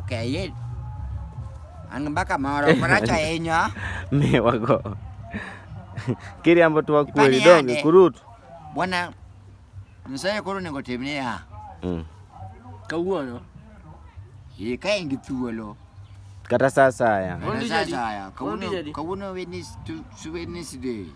Ok, yeye. An mbaka moro maracho ahinya. Miwa go. Kiriambo tu wakweli donge kurutu. Bwana Nyasaye koro onego timne ya. Mm. Kawuono. Ye ka in gi thuolo. Kata saa asaya. Kata saa asaya. Kawuono Wednesday.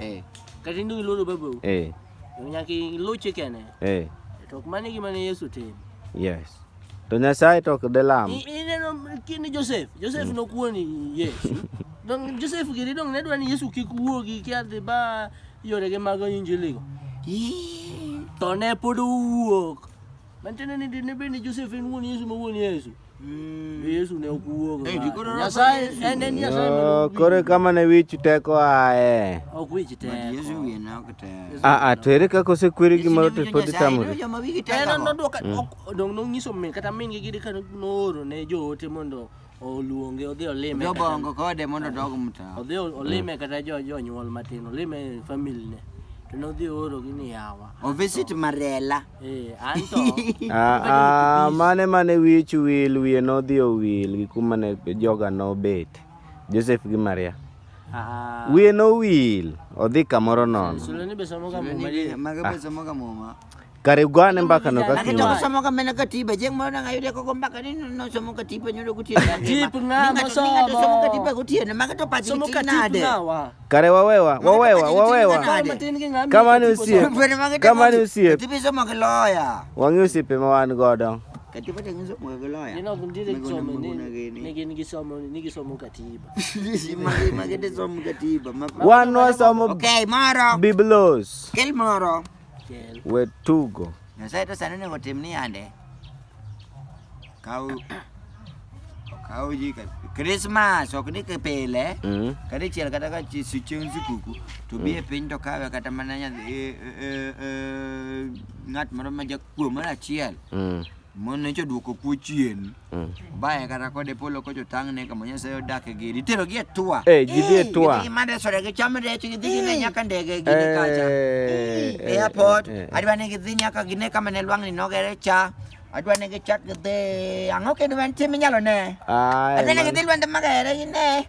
Eh. Kata indu iluoro babu. Eh. Nyaka iluw chikene. Eh. To ok mane gima ne Yesu timo. Yes. To Nyasaye to ok delam. Ineno kini Joseph. Joseph mm. nokuoni Yesu. Don Joseph giri dong ne dwa ni Yesu kik wuogi ki adhi ba yore ge mag injili go. To ne pod owuok. Mantiende ni dine bende Joseph en wuon Yesu ma wuon Yesu. Mm. Yesu ne ok wuogo. Eh, ndiko no- Nyasaye en en Nyasaye. ma Yo, ok wi- koro kama ne wich teko ae Ok wich But Yesu teko. wiye ne ok tek. aa to ere kaka osekweri Yesu gimoro ne to winjo pod Nyasaye, itamori ineno joma wigi tek En ago. noduoka ok dong nonyiso min kata min gi gidi ka nooro ne joote mondo oluonge odhi olime. kata- Jobongo kode mondo odog mtaa. Odhi olime kata jo jonyuol matin, olime family ne. To nodhi ooro gi ni yawa. Ovisit Marela. Eh, anto. Ah, ah, mane mane wich wil wiye nodhi owil gi kuma ne joga nobet joseph gi maria Ah. wiye nowil odhi kamoro nono Sulani be somo ga muma di. Maga be somoga muma. kare ugane mbakano Ane to kakino somoga mena katiba jeng moro nanga yude koko mbaka ni no somo katiba nyodo gutiene. Katip ng'a mosomo? Somo katiba gutiene. Maga to pachi Somo gitiyo katip nade? ng'awa. kare wawewa wawewa wawewa kama ni usiep kama ni usiep wang'i osiepe ma wan godo wan wasomo biblos Kel. we tugo. Nyasaye to sani onego otim ni yande. Kaw kaw ji ka Christmas ok ni ke pile. Mm. Kata chiel kata ka chi si chieng' sikuku to bi e piny to kawe kata mana nyathi e- e- e- e- ng'at moro ma jakuo moro achiel Mm. mon nyocha odwoko kuo chien Mm. baye kata kode polo kocho tang'ne kama nyasaye odake giri iterogi e tua Eh, ji dhi e tua. Gidhi mana e soda gicham rech gidhi gine nyaka ndege gine kacha Eh, eh, airport eh, eh. adwa ni gidhi nyaka gine kama ne lwang'ni nogere cha adwa ni gichak gidhi ang'o kendo mantie minyalo ne Ay, adwa ni man- gidhi lwende magere gine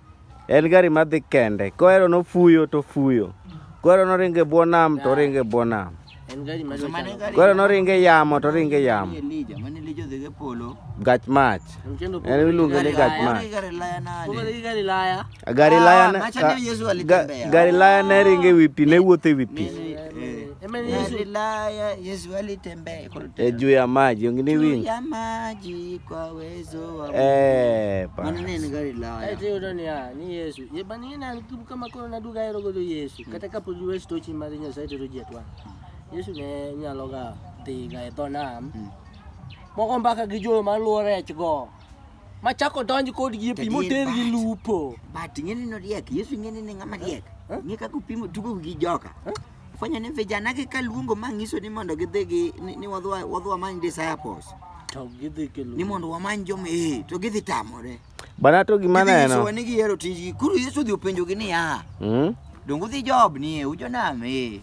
En gari madhi kende. Kohero nofuyo to fuyo. Kohero noringo e bwo nam to oringo e bwo nam. En gari ma Mane dwachalo. gari- Kohero noringo e yamo to oringo e yamo. Elija, mane Elija odhi go e polo. Gach mach. Mchendo En iluonge ni gach Laya. mach. Gari laya nade? Kumbe ni gari laya. Gari Ah, laya ne- macha ka- ni Yesu ga- alitembea. gari laya ne ringo e wi pi, ne wuotho e wi pi. Eh, Ema ni Yesu. Gari laya Yesu alitembea. e, juu ya maji ongini wingi ya maji kwa uwezo wa eh pa manene ni gari la haya eti udoni ya ni Yesu ye bani na kibu kama kono na duga yero godo Yesu hmm. kata kapo duwe sto chi mari nya saite roji atwa Yesu ne nya loga ti ga eto nam hmm. moko mbaka gi jo ma luore ech go ma chako donji kod gi pi mo ter gi lupo but ngene no riek Yesu ngene ne ngama riek ngeka kupimo tugo gi joka huh? fwenyo ni vijana gi ka luongo ma ngiso ni mondo gidhi gi ni wadwa wadwa many disciples to gidhi ke ni mondo wamany jo me eh, to gidhi tamore bana to gima neno so ni gihero tiji kuru Yesu dhi openjo gi ni ya mm dongo dhi job ni e ujo na me eh.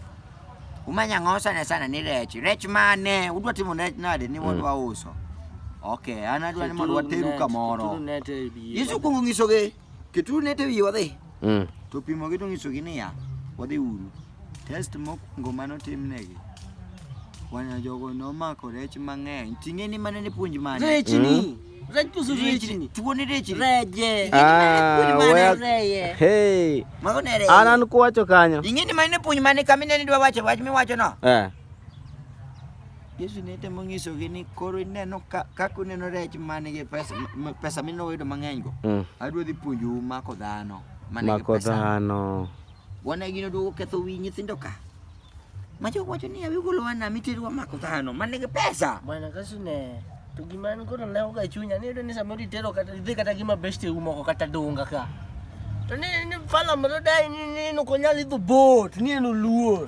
umanya ngo sana sana ni rech rech mane udwa timo rech nade ni wadwa mm. uso okay ana dwa ni mondo wateru kamoro Yesu kungo ngiso gi Keturu net e wiye wadhi. Mm. To opimogi to onyisogi niya, wadhi uru. Test mokwongo mane otimnegi, wana jogo nomako rech mang'eny. Ting'e ni mane ne puonj mane? Rech ni. Rech pusu rech ni. Tuo ni rech ni. Reje. Ah, well, Reye. hey, Mago ne rech. an an kuwacho kanyo. Ing'e ni mane ne puonj mane kama inene idwa wacho wach miwacho no? Eh. Yesu ne temo nyisogi ni koro ineno ka- kaka uneno rech man gi pesa, m- pesa minoyudo mang'eny go Mm. adwa dhi puonjou mako dhano man gi Mako pesa dhano. wana gino duogo ketho wi nyithindo ka ma jok wacho ni awi golo wana miterwa mako dhano man gi pesa Bwana Yesu ne to gima an koro ne oga chunya ni yudo ni samoro itero kata idhi kata gi mabesti u moko kata donga ka. To ni ni fala moro dai ni ni no konyal idho bot ni en oluor.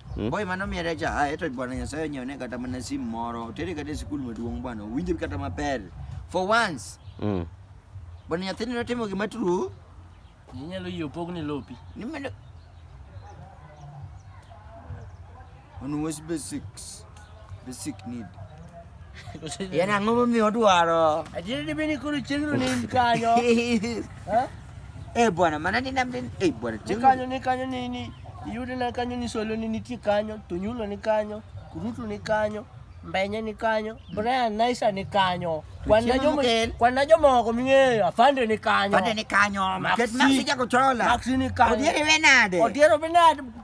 Hmm? Boy mano miere cha ah, eto bwana Nyasaye onyone kata mana simu moro tere kata e sikul maduong' bwana owinjo kata maber for once mm. bwana nyathini notimo gima true inyalo yie opogni lopi ni mano on was basics The sick need. En ang'o momiyo odwaro? Adier ni bini kuru chieng'no ni in kanyo. Eh? Eh bwana, mana ni nam din. Eh bwana, Ni kanyo ni kanyo ni ni iyude na kanyo ni solo ni nitie kanyo, Tonyulo ni kanyo, Kurutu ni kanyo, Mbenye ni kanyo, Brian Naisa ni kanyo. Kwan na jomo Chieng' kwan na jomoko ming'eyo, Afande ni kanyo. Pande ni kanyo. Maxi. Ket maxi jako chola. Maxi ni kanyo. Odieri we nade? Odiero benade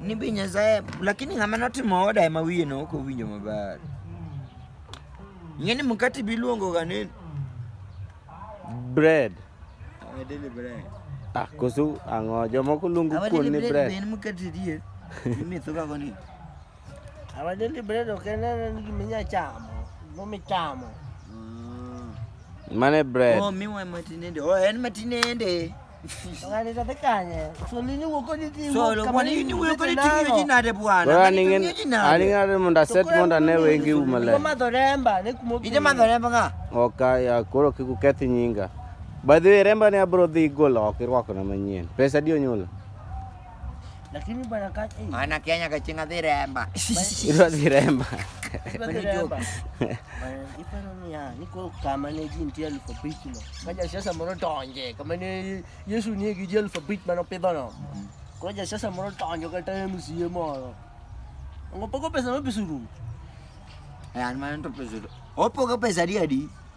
Ni be Nyasaye lakini ng'ama notimo oda ema wiye no ok owinjo maber. Ing'e ni mkate biluongo ga ni Bread. eh, daily bread. Ah, koso ang'o? Jomoko luongo Our kuon daily ni bread be bread. en mkate dier. Imetho ga koni. Our daily bread ok en en gima inya chamo, gima michamo. Mane bread. Oh, miwa matinende. Oh, en matinende. aning'are mundu aset mundu ane wengi umale ije mathoremba ng'a oka ya koro kikukethi nyinga by the way remba ne abro dhi golo oko irwako na manyien pesa di onyulo Lakini bwana kaka eh. Ana Kenya kachinga dhiremba. Ilo dhiremba. Ilo dhiremba. Ipa nani ya niko kama ni jinti alphabet no. Kaja sasa moro tonje kama ni Yesu ni giji alphabet mano pedo no. Kaja sasa moro tonje ka time siye moro. Ngo poko pesa no pesuru. Eh an mano to pesuru. Opo ka pesa dia di.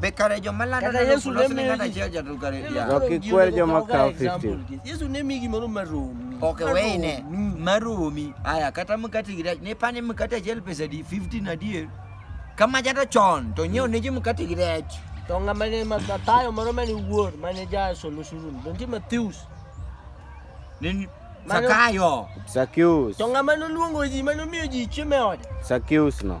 Be kare joma lando Kaka neno Yesu kulos ne ni ng'at miyogi- achiel jatul kare Ineno ya. kaka Rocky gino kwer joma okawo kawo example 50. gi- Yesu ne miyi gimoro maromi. Ok weyne Maromi. maromi. Aya kata mkate gi rech ne pane mkate achiel pesa di 15 adier. Kama jata chon to nyiewo ne ji mkate gi rech. To ng'ama ne ma- Mathayo moro mane wuor mane ja solo suru ni. Donge Matthews. Ni Mano- Sakayo. Sakius. To ng'ama noluongo ji mane omiyo ji chiemo e ode. Sakius no.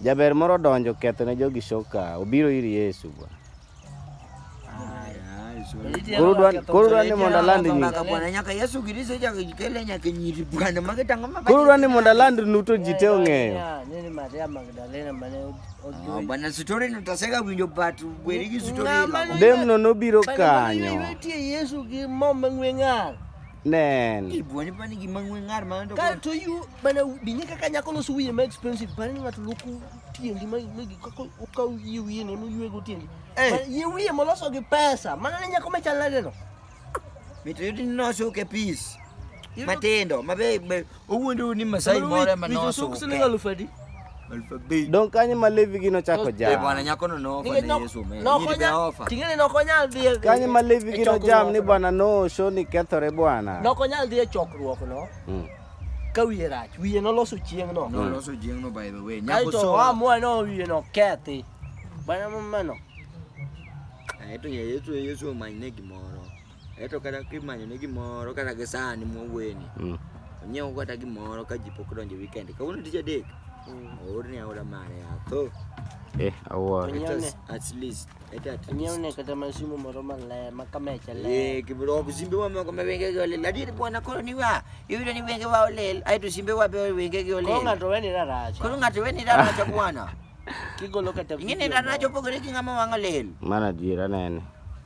Jaber moro odonjo ketho ne jogi shoka, obiro ir Yesu bwa. Koro dwa- koro dwa ni mondo aland nying. nyaka yesu kristo ichako ikele nyaka nyiri bwana mage tang'o ma Koro dwa ni mondo aland nu to ji te ong'eyo. Nini Maria Magdalena mane Ah, ojuoyi? bwana story no taseka winjo but weri gi story Ng'ama ila. no- Demno nobiro Bwana, kanyo. Nitie Yesu gi mo mang'we ng'ar. Nen. Ibuonyo pa ni gima ng'we ng'ar ma ndo. Kae to yu mana binye kaka nyako loso wiye ma expensive bani ni ng'ato loko tiendi ma ma gi- kaka okaw yie wiye ne mo yuego tiendi. Eh. Ma- Yie wiye moloso gi pesa. Mana ne nyako machal nade no. Mito yudi nosuke peace. Matindo mabe be Ugu ndio ni Masai mora manao so. Don kanye malevi gino chako jam. Eh bwana nyako no no fa ne Yesu me. No konya. Tingene no konya dhie. Kanye malevi gino jam ni bwana no show ni kethore bwana. No konya dhie chokruok no. Mm. Ka wiye rach, wiye no loso chieng no. No loso chieng no by the way. Nyako so. Wa mo no wiye no kethi. Bwana mama no. Aito Yesu Yesu omanyne gimoro. Eto kata kimanyo ne gimoro kata gi sani mwaweni. Mm. Onyiew kata gimoro ka ji pok donjo weekend. Kawuono tich adek. Oor ni aora mare atho. Eh, awuoro. Let us at least. Let at Onyiew ne least. kata mashimo moro maler ma kamecha ler. Eh, kibro simbe wa moko ma wenge gi olil. Adier bwana koro ni wa. Iyudo ni wenge wa olil. Aeto simbe wa be wenge gi olil. Koro ng'ato weni raracha. Koro ng'ato weni raracha bwana. Kigolo kata Ing'e ni video raracha moro. opogore gi ng'ama wang' olil. Mana adiera nene.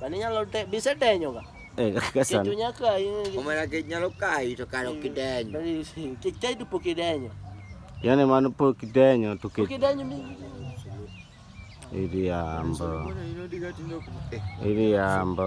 Mano inyalo te, bise denyo ga. Eh, kaka Kech sana. onya kayi. Omera kech nyalo kayi to kare ok idenyo. Kech kayi to pok idenyo. Yaani mano pok idenyo to Pok kech idenyo mi. iriambo. Iriambo.